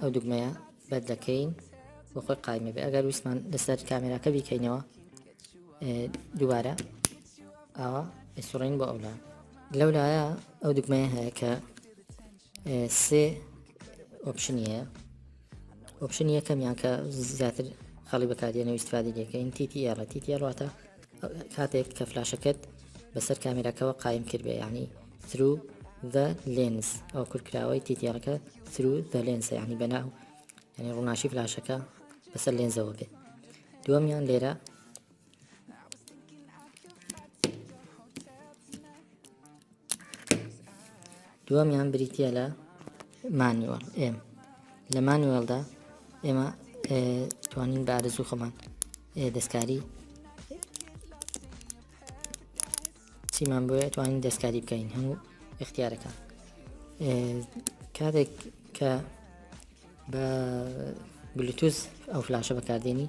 ئەو دوگمەیە بەر دەکەین بۆ خۆی قایمە بێ ئەگەر ویسمان لەسەر کامێراکە بیکەینەوە دووبارە ئاوا ئەسوڕین بۆ ئەولا لەو لایە ئەو دوگمەیە هەیە کە سێ ئۆپشنیە ئۆپشن یەکەمیان کە زیاتر خەڵی بەکاردێنە ویستفادی دەکەین تیتی ئێڕە تیتی ئەڕاتە کاتێک کە فلاشەکەت بەسەر کامێراکەوە قایم کردبێ یعنی ثرو the lens ئەو کورکراوەی تیتێڕەکە ثرو the lens یعنی بەناو یعنی ڕووناشی فلاشەکە بەسەر لێنزەوە بێ دووەمیان لێرە دووەمیان بریتە لە مانیوەڵ ئێم لە مانیوەلدا ئێمە توانین بە ئارزوو خۆمان دەستکاری چیمان بۆیە توانین دەستکاری بکەین هەموو اختیارەکان کاتێک کە بە بلوتوز ئەو فلاشە بەکاردێنی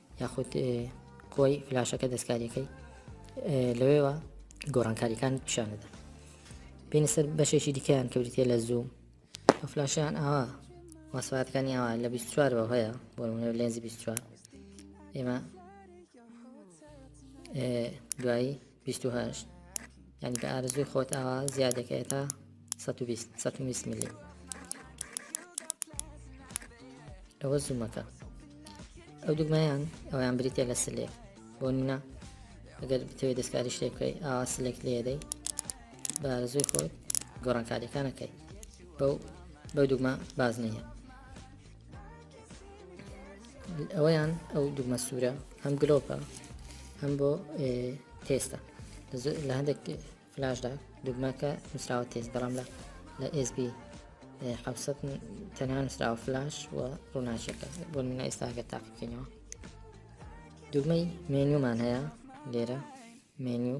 یاخود کۆی فلاشەکە دەستکاریەکەی لەوێوە گۆڕانکاریەکان پیشانەدا پێنە سەر بەشێکی دیکەیان کەوریتە لە زوو ئەو فلاشیان ئاوا مەسواتەکانی ئاوا لە 24 بە هەیە بۆ لێنزی 24 ئێمە دوایی بیست و هەشت یعنی بە ئارزوی خۆت ئاوا زیادەکەی تا سەد و بیست سەد و بیست ملی ئەوە زوومەکە ئەو دوگمەیان ئەویان بریتە لە سلێک بۆ نمونە ئەگەر بتەوێت دەستکاری شتێک بکەی ئاوا سلێک لێدەی بە ئارزوی خۆت گۆڕانکاریەکانەکەی بەو بەو دوگمە باز نییە ئەوەیان ئەو دوگمە سوورە هەم گلۆپە هەم بۆ تێستە لە هەندێک فلاشدا دوگمەکە نووسراوە تێست بەڵام لە لە SB حوسەت تەنها نووسراوە فلاش و ڕووناچەکە بۆ منە ئێستاگە تاقیکەینەوە دوگمەی مێنیومان هەیە لێرە مێنیو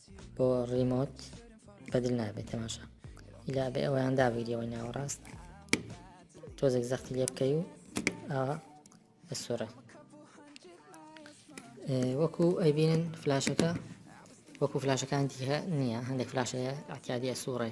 بۆ ڕیمۆت بەدل نابێت تەماشا ئیلا بێ ئەویان دابیریەوەی ناوەڕاست تۆزێک زەختی لێ بکەی و ئاوا بە سۆرە وەکو ئەیبینن فلاشەکە وەکو فلاشەکان دیهە نییە هەندێک فلاشەیە ئەتیادیە سوڕێ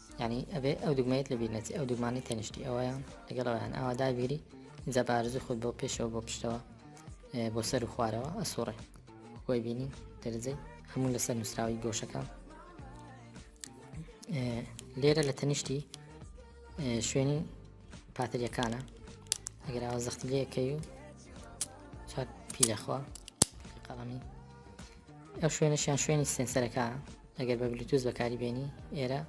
یانی ئەبێ ئەو دوگمەیەت لە بیر نەچێ ئەو دوگمانەی تەنیشتی ئەوەیە لەگەڵ ئەویان ئاوا دابیری جا بارزوو خۆت بۆ پێشەوە بۆ پشتەوە بۆ سەر و خوارەوە ئەسوڕێ خۆی بینی دەرجەی هەموو لەسەر نووسراوی گۆشەکە لێرە لە تەنیشتی شوێنی پاتریەکانە ئەگەر ئەوە زەختی لێکەی و چاک پیلەخوا قەڵەمی ئەو شوێنەشیان شوێنی سێنسەرەکە ئەگەر بە بلوتوز بەکاری بێنی ئێرە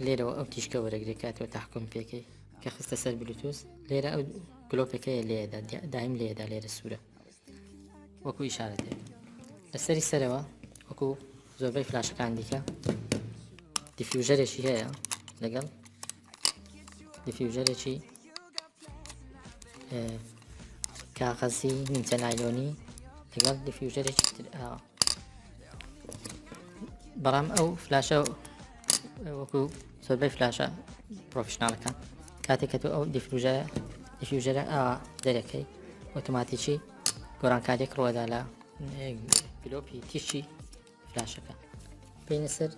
لێرەوە ئەو تیشکە وەرەگرێک کاتەوە تاحکم پێکەی کە خستە سەر بلوتوز لێرە ئەو گلۆپەکەیە لێدا دایم لێدا لێرە سوورە وەکو ئیشارەتێ لەسەری سەرەوە وەکو زۆربەی فلاشەکان دیکە دیفیوژەرێکی هەیە لەگەڵ دیفیوژەرێکی کاغەزی نیمچە نایلۆنی لەگەڵ دیفیوژەرێکی تر ئاوە بەڵام ئەو فلاشە وەکو زۆربەی فلاشە پرۆفشنناڵەکان کاتێک کە تۆ ئەو دیفروژە دیفیوژەرە ئاوا دەرەکەی ئۆتوماتیکی گۆرانکاریێک ڕۆدا لە گلۆپی تیشی فلاشەکە بینە سەر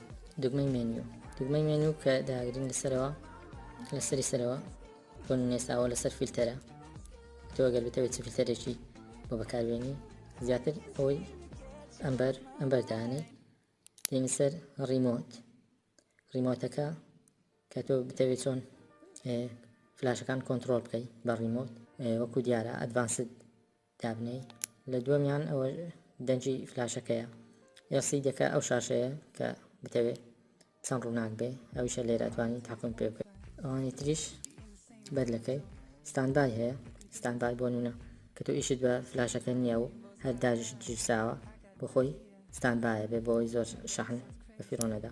دگمەی مێنیو دگمەی مێنیو کە داگرین لەسەرەوە لەسەری سەرەوە بۆ نێساوە لەسەر فیلتەرە تۆ گەر بتەوێت چ فیلتەرێکی بۆ بەکاربیێنی زیاتر ئەوەی ئەمبەر ئەمبەر دانێ دێنی سەر ڕیمۆت ڕیمۆتەکە کە تۆ بتەوێت چۆن فلاشەکان کۆنتترۆل بکەیت بە ڕیمۆت وەکو دیارە ئەدڤانسد دابنێی لە دووەمیان ئەوە دەنگی فلاشەکەیە یاسی دەکە ئەو شاشەیە کە بتەوێ چەند ڕووناک بێ ئەوشە لێراتوانی تاقم پێ بکە ئەوانی تریش بەدلەکەی ستانبای هەیە ستانبای بۆ نونە کە تۆ ئیشت بە فلاشەکە نییە و هەر داژش گیرساوە بۆ خۆی ستانبایە بێ بۆی زۆر شەحن بە فیرۆنەدا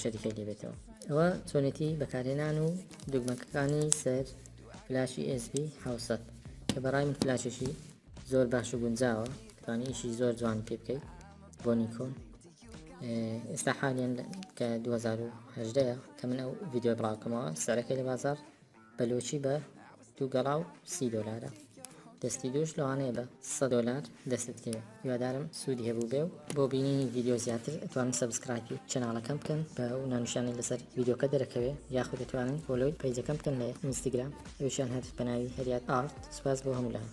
شەریکە لێبێتەوە ئەوە چۆنێتی بەکارهێنان و دگمەکەکانی سەر فلاشی SB حوسەت کە بەڕای من فلاشێکی زۆر باش و گونجاوە توانی ئیشی زۆر جوان پێ بکەیت بۆ نیکۆن ئێستا حالیان کە 2010 کە من ئەو ڤیددیو بڵاوکەمەوە سەرەکەی لە بازار بەلۆچی بە دوو گەڵا و سی دۆلارە دەستی دووش لەوانەیە بە سە دۆلار دەستت کەوێ هیوادارم سوودی هەبوو بێ و بۆ بینینی ڤیددیو زیاتر ئەتوانن سەبسکرایپی چەناڵەکەم بکەن بە و نانوشانی لەسەر ڤیددیوکە دەرەکەوێ یاخود دەتوانن بۆلۆی پەیجەکەم بکەن لە ئینستاگرام ئەوشیان هەر بەناوی هەریات ئارت سپاس بۆ هەموولایان.